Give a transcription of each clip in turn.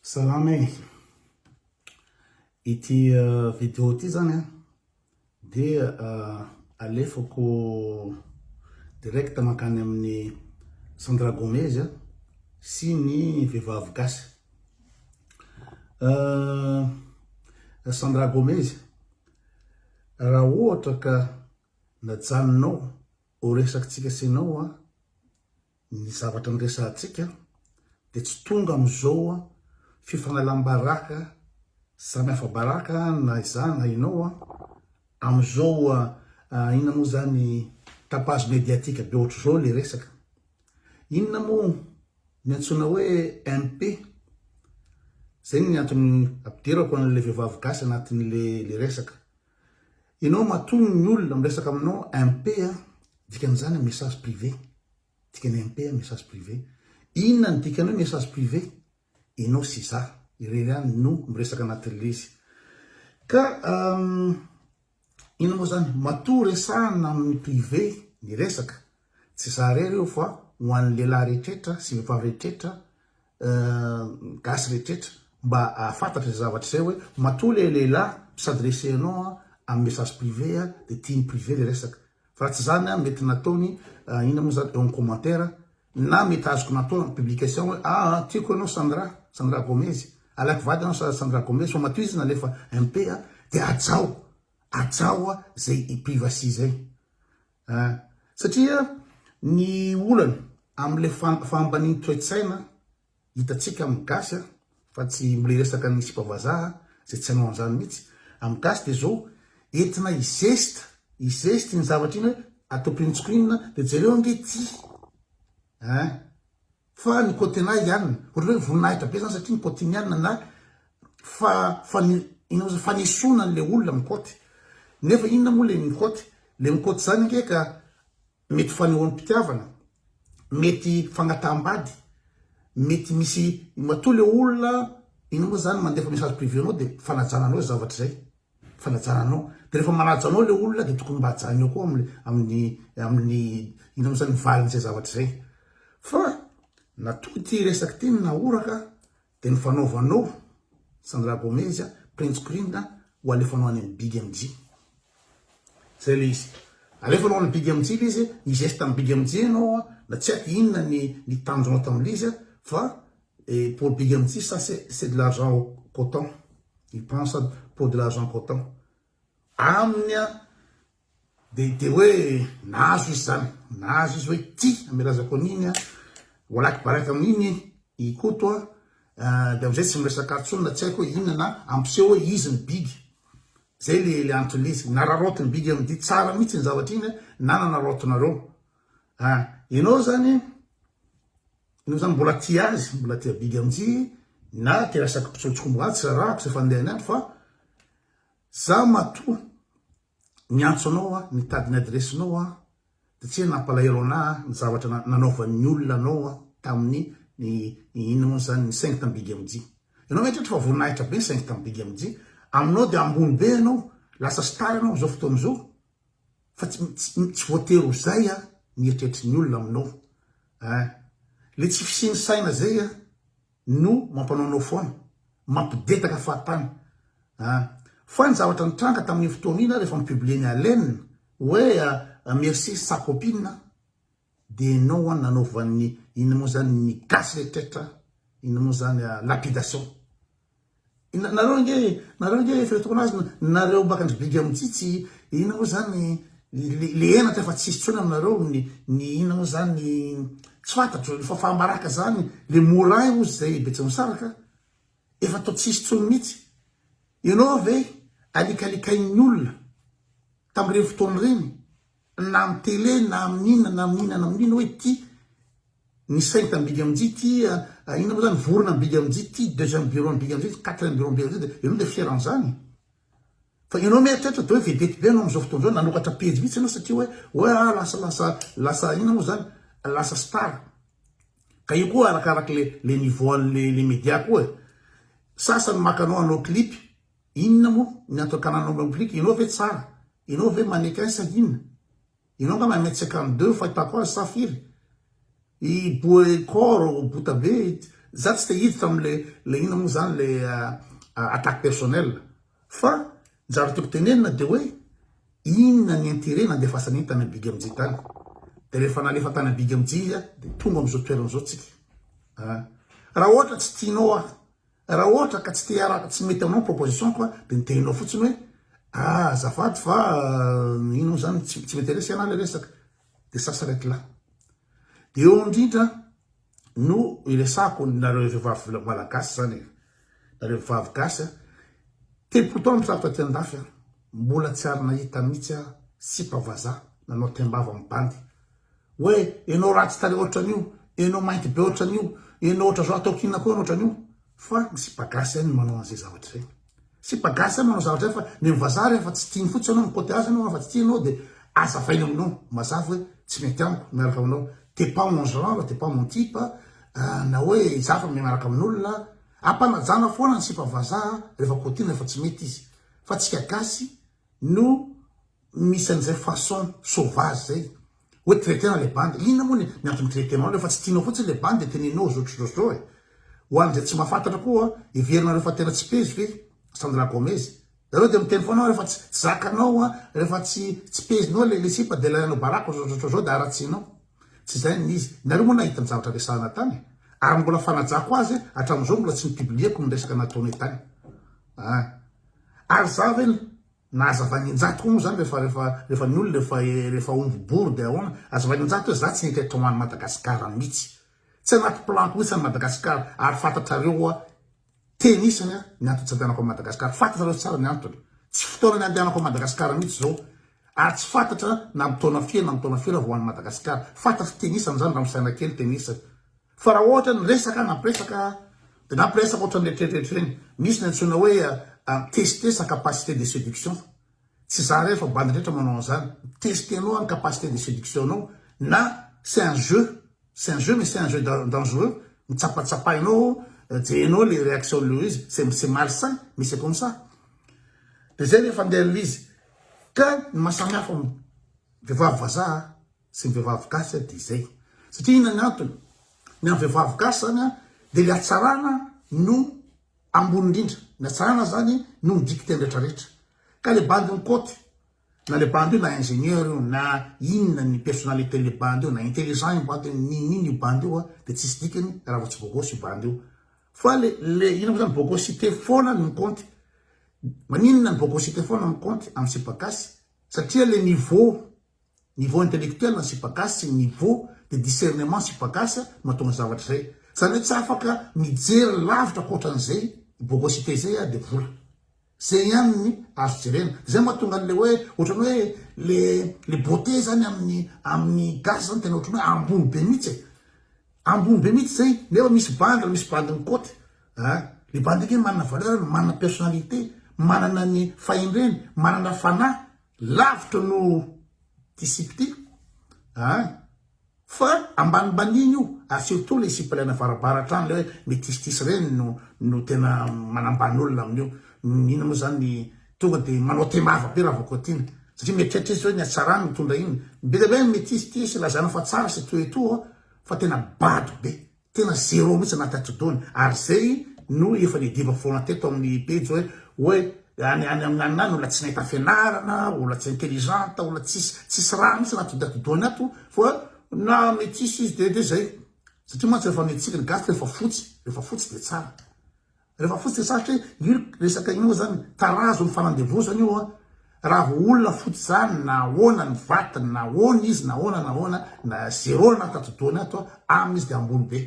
Salama e! Ity uh, vidéo ity zany a dia uh, alefako direct mankany amin'ny Sandra Gomez a sy ny vehivavy gasy. Uh, Sandra Gomez, raha ohatra ka najanonao ho resakitsika sy ianao a Ny zavatra niresahantsika dia tsy tonga amin'izao fifanalam-baraka samy hafa baraka na izaho na ianao amin'izao inona moa izany tapage médiatique be ohatr'izao ilay resaka. Inona moa ny antsoina hoe MP? Izay ny antony ampidirako an'ilay vehivavy gasy anatin'ilay resaka. Enao matoa ny olona miresaka aminao MP a, dikan'izany hoe message privé, dikany MP a message privé, inona ny dikany hoe message privé? Enao sy za irery ihany no miresaka anatin'ilay izy ka inona moa izany? Matoa resahana amin'ny privé ny resaka Tsy za irery io fa ho an'ny lehilahy rehetrretra sy vehivavy rehetrretra gasy rehetrretra mba ahafantatra izay zavatra izay hoe matoa ilay lehilahy mpisadresse anao amin'ny message privé dia tiany privé ilay resaka fa raha tsy izany mety nataony inona moa izany eo amin'ny commentaire na mety azoko natao amin'ny publication hoe aa tiako ianao Sandra Sandra Gomez alaiky vady ianao sa Sandra Gomez fa matoa izy nalefa MP dia hajao hajao izay privacy izay An! Satria ny olana amin'ilay fahambanian'ny toe-tsaina hitantsika amin'ny gasy an, fa tsy mbola hiresaka ny sipa vazaha izay tsy hanao an'izany mihitsy, amin'ny gasy dia izao, entina hi-geste, hi-geste iny zavatra iny hoe atopintsiko inona dia jereo ange ity an! Fa ny Cotinaiana, ohatrany hoe voninahitra be zany satria ny Cotiniana na fa fane ino moa zany fanesoana an'ilay olona mikoty. Nefa inona moa ilay mikoty? Ilay mikoty izany ange ka mety fanehoam-pitiavana, mety fagnataham-bady, mety misy matoa ilay olona ino moa zany mandefa message privé anao dia fanajana anao izay zavatra izay. fanajana anao de refa manaja anao le olona de tokony mba ajanony koa aminy aminy aminy ino mo zany ny valiny zay zavatra zay fa natoa ty resaky ty ny nahoraka de ny fanaovanao sandra gomez a prince queen a ho alefanao any aminy big mj zay le izy alefanao any big mj le izy nizesta aminy big mj anao na tsy aiko inona ny ny tanjonao taminy izy fa Et pour big M Tsisy ça c'est de l'argent cotant il prend ça pour de l'argent cotant aminy a de de hoe nahazo izy zany nahazo izy hoe ty amy lazako an'iny a walaky baraka amin'iny i Koto a de amizay tsy miresaka ato tsony na tsy aiko hoe inona na ampiseho hoe izy ny big zay le le antony le izy nararaotiny big M dia tsara mihitsy iny zavatra iny na nanaraotinareo a ianao zany Enao zany mbola tia azy, mbola tia Big MJ na tia resaky mpitsotsombo atsy rarahako zay fandeha ny andro fa za matoa miantso anao aho mitady ny adiresy nao aho de tsy hoe nampalahelo anah ny zavatra nanaovan'ny olona anao aho tamin'ny ny inona moa zany ny saingy tamin'ny Big MJ. Enao ve tratry fa voninahitra be ny saingy tamin'ny Big MJ? Aminao de ambony be enao, lasa star enao amzao fotoana zao. Fa tsy tsy voatery ho zay a ny eritreritry ny olona aminao a. Le tsy fisian'ny saina zay a no mampanao anao foana, mampidetaka fahatany a. Fa ny zavatra nitranga tamin'iny fotoana iny a rehefa mi-publier-n'i Allen hoe merci sa copine a de enao a nanaovan'ny inona moa zany ny gasy rehetriretra inona moa zany a lapidation. Nareo ange nareo ange efa eo tokony azy nareo baka ndry biga mitsitsy inona moa zany le henatra efa tsisy tsony aminareo ny ny inona moa zany tsy fantatro efa fambaraka zany le moray ozy zay betsimisaraka efa to tsisy tsony mitsy enao ve alikalikain'ny olona tamreny fotoana reny na amin'ny tele na amin'ny inona na amin'ny inona na amin'ny inona hoe ity ny sainte am-bigy amin-jia ity inona moa izany vorona am-bigy amin-jia ity deuxième bureau am-bigy amin-jia ity quatrième bureau am-bigy amin-jia dia ianao dia fier an'izany fa ianao mieritreritra dia hoe vedety be ianao amin'izao fotoana izao nanokatra pejy mihitsy ianao satria hoe hoe ah lasa lasa lasa inona moa izany lasa star ka io koa arakaraka le le niveau an'le le média koa e sasany maka anao hanao clip Inona moa ny antony ka nanao replique ianao ve tsara ianao ve manequin sa inona ianao angamba un mètre cinquante deux fahitako azy sa firy i boekor bota be za tsy te hiditra amle le inona moa zany le attaque personnel fa ny zavatra tiako tenenina de hoe inona ny interet nandefasana iny tany big mj tany de rehefa nalefa tany big mj izy a de tonga amzao toerana zao tsika a raha ohatra tsy tianao aho Raha ohatra ka tsy te hiaraka, tsy mety aminao ny proposition ko dia ny teninao fotsiny hoe ah azafady fa ino moa zany tsy m'interesse ana le resaka dia ça s'arrête là. Dia eo indrindra no iresahako nareo vehivavy malagasy zany e, nareo vehivavy gasy a, telopolo taona misaraka taty andafy aho mbola tsy ary nahita mihitsy aho sipa vazaha nanao teim-bava mibandy. hoe enao ratsy tarehy otran'io, enao mainty be otran'io, enao otra zao ataoko inona koa enao otran'io fa ny sipa gasy ihany no manao an'izay zavatra izay. Sipa gasy ihany manao zavatra izay fa ny an'i vazaha rehefa tsy tiany fotsiny ianao, mi-côté azy ianao rehefa tsy tiany ianao dia azavainy aminao mazava hoe tsy mety amiko miaraka aminao, t'es pas mon genre, t'es pas mon type na hoe izaho efa mianaraka amin'olona, ampanajana foana ny sipa vazaha rehefa cotinina rehefa tsy mety izy fa antsika gasy no misy an'izay façon sauvage izay hoe traiter-na ilay bandy. Inona moa ny antony traiter-nao ilay fa tsy tianao fotsiny ilay bandy dia tenenao zotrozao e. Ho an'izay tsy mahafantatra koa, heverinareo fa tena tsy pezy ve Sandra Gomez? Ianao dia miteny foana hoe rehefa tsy zakanao, rehefa tsy tsy pezinao ilay sipa dia ilay anao baraka zotrozao dia haratsianao. Tsy izay ny izy. Ianareo moa nahita ny zavatra resahana tany e. Ary mbola fanajako azy hatramin'izao mbola tsy ni-publier-ko ny resaka nataonay tany. Ary za ve na hazavainy injato koa moa zany refa refa refa ny olona efa refa omby bory de ahoana? Hazavainy injato hoe za tsy nety eto any Madagascar mitsy. Tsy anaty plan-ko mitsy any Madagascar ary fantatrareo hoa teny isany a ny antony tsy andehanako any Madagascar. Fantatrareo tsara ny antony. Tsy fotoana ny andehanako any Madagascar mitsy zao ary tsy fantatra na am taona firy na am taona firy aho vao any Madagascar. Fantatro teny isany zany raha misaina kely teny isany. Fa raha ohatra ny resaka nampiresaka dia nampiresaka ohatra ny eritreritreritry ireny, misy ny antsoina hoe mi-tester sa capacité de séduction fa tsy za irery fa bandy rehetra manao an'izany, mi-tester-nao any capacité de séduction-nao na c'est un jeu, c'est un jeu mais c'est un jeu dangereux, mitsapatsapainao ao, jerenao ilay réaction-n'ilay izy, c'est malsain mais c'est comme ça. Dia izay rehefa andeha ilay izy. Ka ny maha samy hafa ny vehivavy vazaha. Sy ny vehivavy gasy a, de izay. Satria inona ny antony? Ny an'ny vehivavy gasy zany a, de le hatsarana no ambony indrindra, ny hatsarana zany no midika tena rehetra rehetra. Ka le bandy ny côte, na le bandy io na ingénieur io, na inona ny personnalité le bandy io, na intelligent io bandy io, na n'inon'inona io bandy io a, de tsisy dikany raha vao tsy bôgôsy io bandy io. Fa le le ino mo zany, bôgôsité fôna no mi-compte. Maninona ny bôgôsité fôna mi-compte amin'ny sipa gasy? Satria le niveau Niveau intellectuel ny sipagasy sy ny niveau de discernement ny sipagasy no mahatonga zavatra izay. Izany hoe tsy afaka mijery lavitra ankoatran'izay bogosité izay ary dia vola. Izay ihany ny azo jerena. Dia izay mahatonga an'ilay hoe ohatran'ny hoe le le beauté izany amin'ny amin'ny gasy izany tena ohatran'ny hoe ambony be mihitsy e. Ambony be mihitsy izay nefa misy bandy ary misy bandy mikaoty a. Ilay bandy nge manana valeur, manana personnalité, manana ny fahendreny, manana fanahy Lavitra noho ity sipa ity a! Fa ambanimbaniany io, ary surtout ilay sipa ilay navarabara hatrany, ilay hoe mitisitisy ireny no no tena manambany olona amin'io. Iny moa izany ny tonga dia manao temava be Ravakotiana, satria mieritreritra izy hoe ny hatsarany mitondra iny. Be dia be ny mitisitisy, lazana fa tsara sy etoa etoa, fa tena bado be. Tena zero mihitsy na tati-doany ary zay no efa nediva foana teto amin'ny pejy hoe hoe any any amin'ny any olona tsy nahita fianarana, olona tsy intelligente, olona tsisy tsisy raha mihitsy na tati-doany ato fa na métisse izy dia dia zay satria mantsy rehefa mitsiky ny gasy dia efa fotsy, rehefa fotsy dia tsara. Rehefa fotsiny sarotra e, io resaka io moa zany tarazo ny fanandevozana io an, raha vao olona fotsy zany na ahoana ny vatiny na ahoana izy na ahoana na ahoana na zéro ny ati-dohany ato aminy izy de ambony be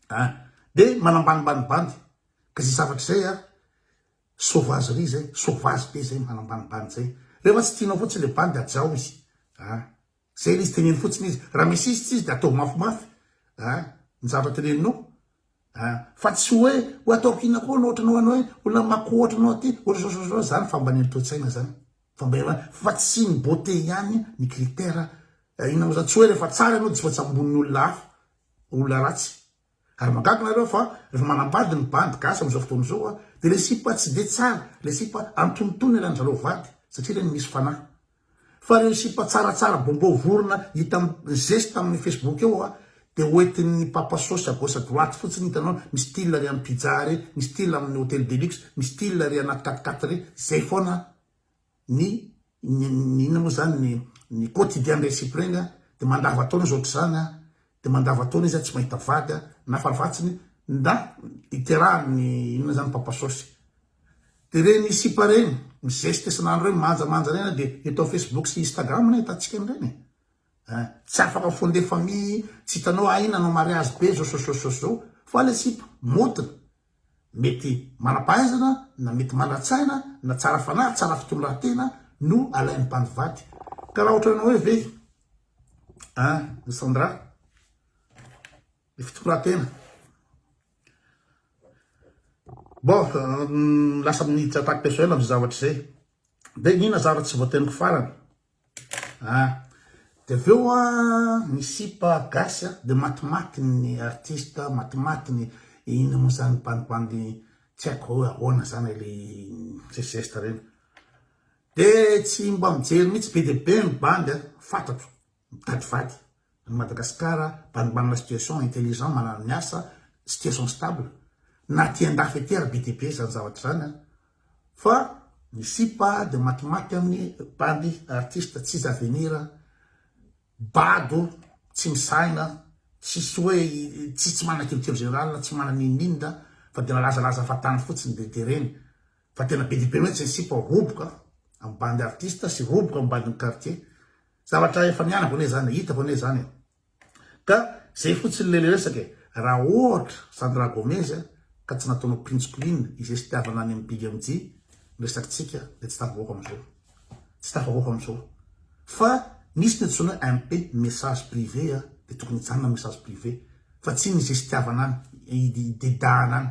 an, de manambanimbany bandy ka zay zavatra zay an, sauvagerie zay, sauvage be zay manambanimbany zay, rehefa tsy tianao fotsiny le bandy de hajao izy an. Zay ilay izy teneno fotsiny izy. Raha misy izy tsy izy dia ataovy mafimafy a ny zavatra teneninao a. Fa tsy hoe hoe ataoko inona koa no ohatranao anao hoe olona mako ohatranao aty ohatr'izao izany fambaniana toe-tsaina izany. Fambaniana fa tsy ny beauté ihany ny critère inona moa izany. Tsy hoe rehefa tsara ianao dia tsy voatsambon'ny olona hafa, olona ratsy. Ary mahagaga nareo fa refa manambady ny bandy gasy amizao fotoana zao a de le sipa tsy de tsara le sipa antonontonony alan zareo vady satria reny misy fanahy fa reo sipa tsaratsara bombô vorona hita am geste aminy facebook eo a de hoetiny papa sôsy à gauche à droite fotsiny hitanao mi style re am pizza re mi style aminy hôtel de luxe mi style re anaty quat quatre re zay fôna a. ny ny inona moa zany ny ny quotidien ndray sipa regny a de mandava taona izy ohatr'izany a de mandava taona izy a tsy mahita vady a na farafahatsiny nda iterahany ny inona zany papa sôsy de regny sipa regny mizeste isan'andro regny manjamanja regny a de eto am facebook sy instagram ny ahitantsika an'iregny e ein tsy afaka fondé famille tsy hitanao ahy nanao mariazy be zao sôsôsôsô fa le sipa moton mety manam-pahaizana na mety manan-tsaina na tsara fanahy, tsara fitondran-tena no alain'ny mpandivady. Ka raha ohatranao hoe ve an ny Sandra ny fitondran-tena bon lasa miditra attaque personnelle amin'izay zavatra izay dia ny nazara tsy voateniko farany Ah de avy eo an ny sipa gasy an de matimaty ny artiste matimaty ny ino mo zany bandibandy tsy haiko hoe ahoana zany le misy zesta reny de tsy mba mijery mitsy be de be ny bandy an fatatro mitady vady An'i Madagasikara mba manana situation intelligent manana ny asa, situation stable, na aty andafy aty ary be dia be izany zavatra izany an! fa ny sipa dia matimaty amin'ny bandy artiste tsisy avenir, bado, tsy misaina, tsisy hoe tsisy tsy manana culture générale, tsy manana inoninona fa dia milazalaza fahatany fotsiny dia dia ireny Fa tena be dia be mihitsy ny sipa roboka amin'ny bandy artista sy roboka amin'ny bandin'ny quartier. Zavatra efa nianako anie izany, hitako anie izany e. Ka izay fotsiny ilay resaka e, raha ohatra izany Ra Gomez ka tsy nataonao Prince Queen izay sitiavana any amin'ny Big MJ ny resakintsika dia tsy tafavoaka amin'izao. Tsy tafavoaka amin'izao. Fa misy ny antsoina hoe MP, message privé a, dia tokony hijanona message privé. Fa tsy ny izay sitiavana any, hidedahana any.